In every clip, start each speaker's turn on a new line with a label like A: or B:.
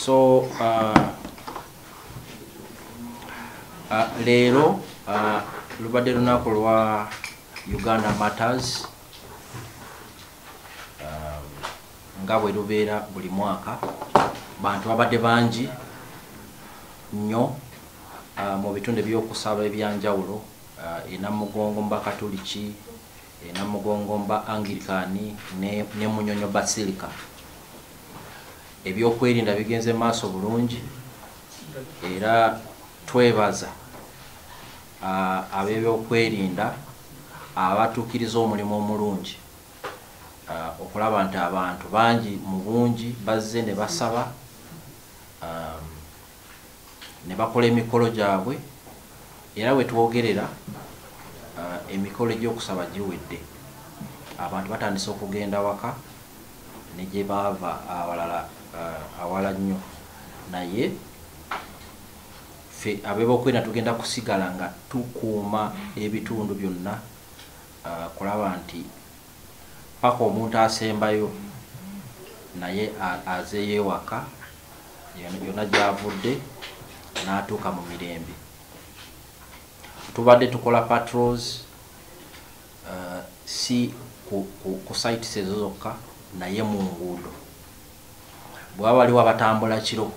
A: so uh, uh, leero uh, lubadde lunaku lwa uganda matters um, nga bwe lubeera buli mwaka bantu babadde bangi nnyo mu bitundu ebyokusaba ebyanjawulo enamugongo mubakatuliki e Namugongo ba Anglican ne, ne Munyonyo Basilica. Ebyokwerinda bigenze maaso bulungi era twebaza ab'ebyokwerinda abatuukiriza omulimu omulungi okulaba nti abantu bangi mu bungi bazze ne basaba um, ne bakola emikolo gyabwe era we twogerera uh, emikolo egy'okusaba giwedde abantu batandise okugenda waka ne gye baava awalala uh, awala nnyo naye fe abebokwenda tugenda kusigala nga tukuuma ebitundu byonna uh, kulaba nti paka omuntu asembayo naye azeyo ewaka yonna gyavudde n'atuuka mu mirembe tubadde tukola patrols uh, si ku, ku, ku sites ezo zokka naye mu nguudo bwaba waliwo abatambula kiro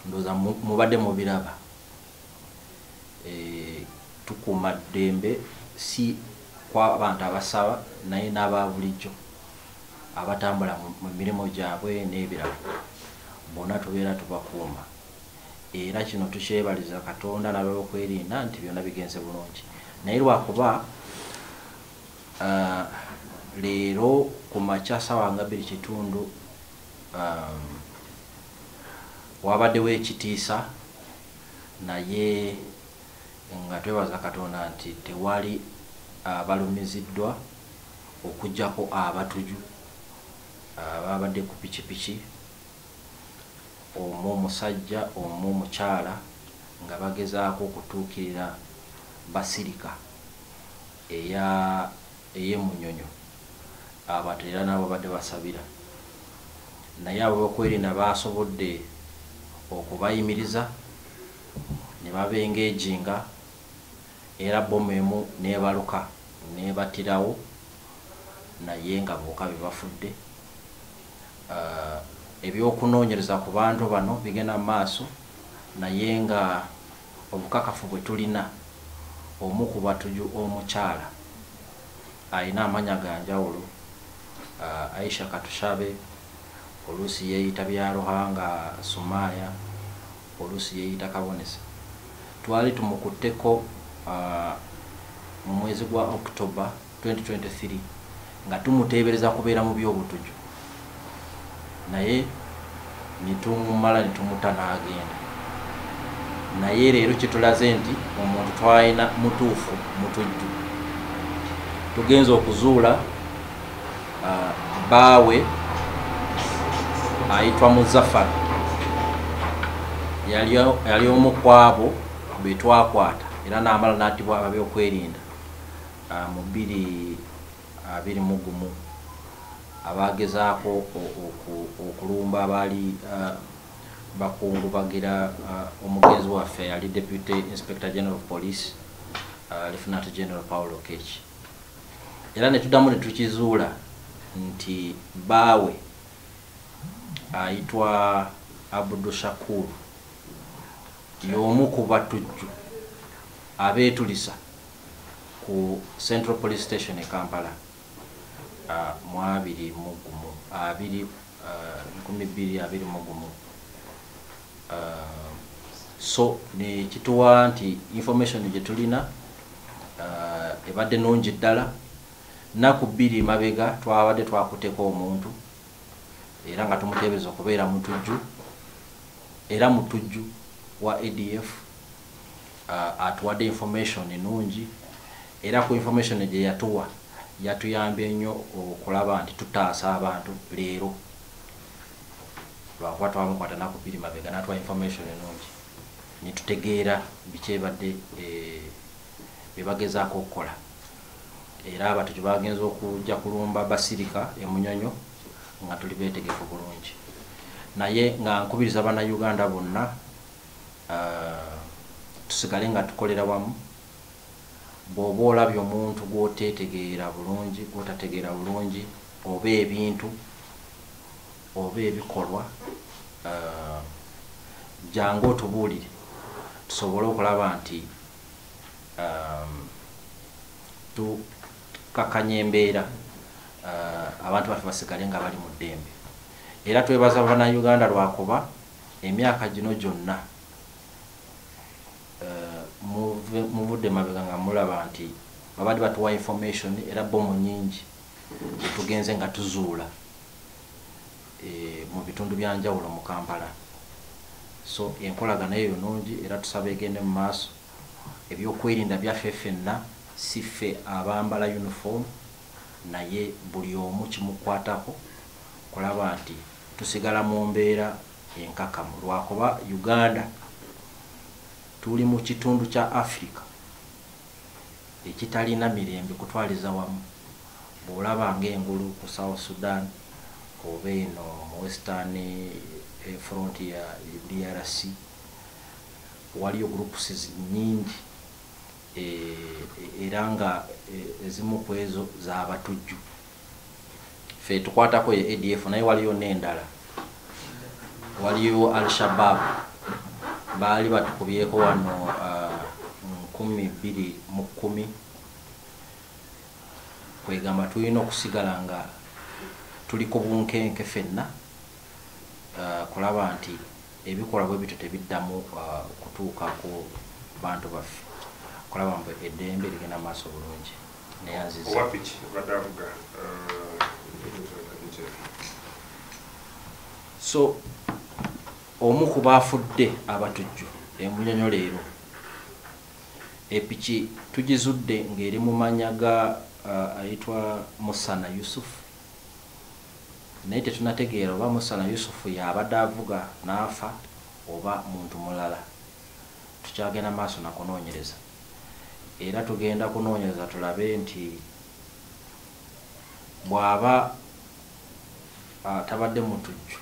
A: ndoza mubadde mubiraba e, tukuuma ddembe si kwabantu abasaba naye n'aba bulijjo abatambula mu mirimu gyabwe n'ebirala bona tubeera tubakuuma era kino tukyebaliza katonda nabeokwerinda nti byonna bigenze bulungi naye lwakuba uh, leero ku makya sawa nga biri kitundu um, wabaddewo ekitiisa naye nga twebaza katonda nti tewali abalumiziddwa uh, okujjako abatuju ababadde ku pikipiki omu omusajja omu omukyala nga bagezaako okutuukirira basirika eya eyemunyonyo abantu era nabo babadde basabira naye abokwerinda baasobodde okubayimiriza ne babengejinga era bbomu emu n'ebaluka n'ebattirawo naye nga boka be bafudde. Eby'okunoonyereza ku bantu bano bigenda mu maaso naye nga obukakafu bwe tulina omu ku batuju omukyala alina amanya ga njawulo, Aisha Katushabe oluusi yeeyita Byaruhanga Sumaaya, Oluusi yeeyita Kabonesa. Twali tumukutteko mu mwezi gwa October, 2023 nga tumuteebereza kubeera mu by'obutujju naye ne tumumala ne tumuta n'agenda. Naye leero kitulaze nti omuntu twalina mutuufu mutujju. Tugenze okuzuula. uh, baawe ayitwa muzafar yali omu kwabo betwakwata era namala natibwa ababyokwerinda uh, mu biri abiri uh, mugumu abagezaako okulumba abaali uh, bakungubagira uh, omugenzi waffe yali deputy inspector general of police uh, lieutenant general paul okech era ne tuddamu ne tukizuula nti bbaawe ayitwa Abdu Shakur y'omu ku batujju abeetulisa ku Central Police Station e Kampala ah, mu abiri mu gumu abiri ah, nkumi bbiri abiri mu gumu so nekituwa nti information gyetulina uh, ebadde nungi ddala naku bbiri mabega twabadde twakuteko omuntu era nga tumutebeza okubeera mutujju era mutujju wa adf uh, atuwadde information enungi era ku information gyeyatuwa yatuyambye nnyo okulaba nti tutaasa abantu leero lwakuba twamukwata nakubiri mabega natuwa information enungi netutegeera biki ebadde eh, byebagezaako okukola era abatyo kyebagenza okujja kulumba basirika emunyonyo nga tuli betegefu bulungi naye nga nkubiriza bana uganda bonna eh, tusigale nga tukolera wamu bw'oba olabye omuntu gw'oteetegeera bulungi, gw'otategeera bulungi oba ebintu oba ebikolwa, jjangu otubuulire tusobole okulaba nti tukkakkanya embeera abantu baffe basigale nga bali mu ddembe. Era twebaza Bannayuganda lwakuba emyaka gino gyonna, muvudde mabega nga mulaba nti babadde batuwa information era bomu nyingi etugenze nga tuzuula eh, mu bitundu byanjawulo mu kampala so enkolagana eyo nungi era tusaba egende mu maaso ebyokwerinda byaffe fenna si ffe abambala uniform naye buli omu kimukwatako kulaba nti tusigala mu mbeera enkakamu lwakuba Uganda tuli mu kitundu kya Africa ekitalina mirembe kutwaliza wamu bwolaba nga engulu ku South Sudan oba eno mu Western eh, front ya DRC waliyo groups nyingi eh, era nga eh, ezimu ku ezo zabatujju fe tukwatako ye adf naye waliyo nendala waliyo al shabab baali batukubyeko wano uh, nkumi bbiri mu kkumi kwegamba tulina okusigala nga tuli ku bunkenke fenna kulaba nti ebikolwa bwe bityo tebiddamu kutuuka ku bantu baffe kulaba mbu eddembe ligenda maaso bulungi neyanziza so omu ku baafudde abatujju emunyonyo leero epiki tugizudde ng'eri mu manya ga uh, ayitwa musana yusufu naye tetunategeera oba Musana Yusufu y'abadde avuga n'afa oba muntu mulala. Tukyagenda maaso na kunoonyereza era tugenda kunoonyereza tulabe nti bw'aba tabadde mutujju,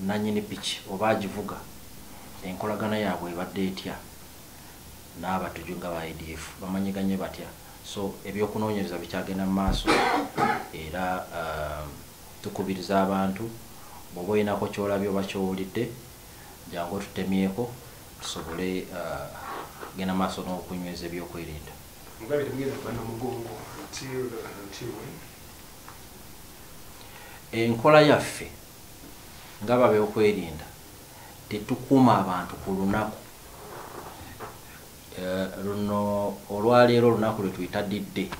A: nnannyini piki oba agivuga enkolagana yaabwe ebadde etya n'abatujju nga aba ADF, bamanyiganye batya? So ebyokunoonyereza bikyagenda mu maaso era um, tukubiriza abantu bw'oba olinako ky'olabye oba ky'owulidde jangu otutemyeko tusobole uh, kugenda uh, maaso n'okunyweza ebyokwerinda mugabe temugenda kuba na mugongo until until when enkola yaffe nga babyokwerinda tetukuuma abantu ku lunaku Eh, luno olwaleero olunaku lwetuyita didde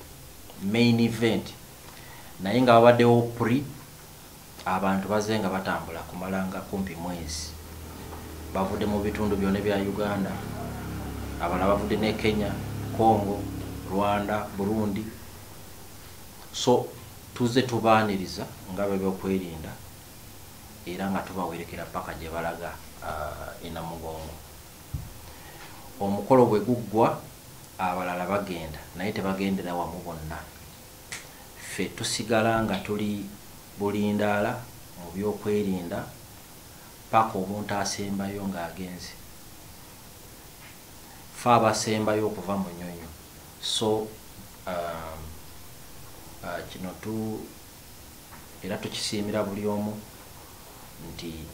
A: main event naye nga babaddewo pri abantu baze nga batambula kumalanga kumpi mwezi bavudde mu bitundu byona bya uganda abala bavudde ne kenya congo rwanda burundi so tuze tubaaniriza nga bebyokwerinda era nga tubawerekera paka gyebalaga uh, ah, enamugongo Omukolo bwe guggwa abalala bagenda naye tebagendera wamu bonna. Ffe tusigala nga tuli bulindaala mu byokwerinda paka omuntu asembayo ng'agenze. Ffe abasembayo okuva Munyonyo so um, uh, kino tu era tukisiimira buli omu nti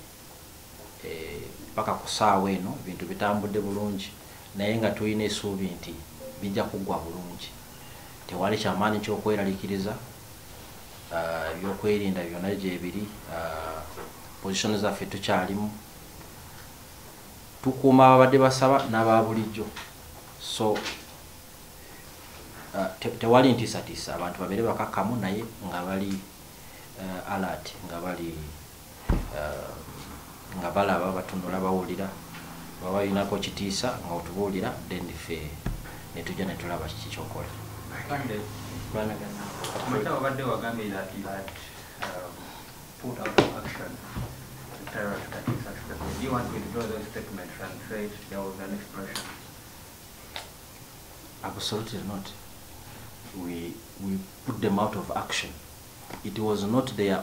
A: eh, paka ku saawa eno ebintu bitambudde bulungi naye nga tulina esuubi nti bijja kuggwa bulungi tewali kyamaanyi kyokweraliikiriza ah, ebyokwerinda byonna gyebiri ah, position zaffe tukyalimu tukuuma ababadde basaba n'ababulijjo so ah, tewali ntiisatiisa abantu babeere bakakkamu naye nga bali alert nga bali eh, nga balaba batunula bawulira baba balinako kitiisa nga otubuulira then fe netujja netulaba kiki kyokola Absolutely not. We, we put them out of action. It was not their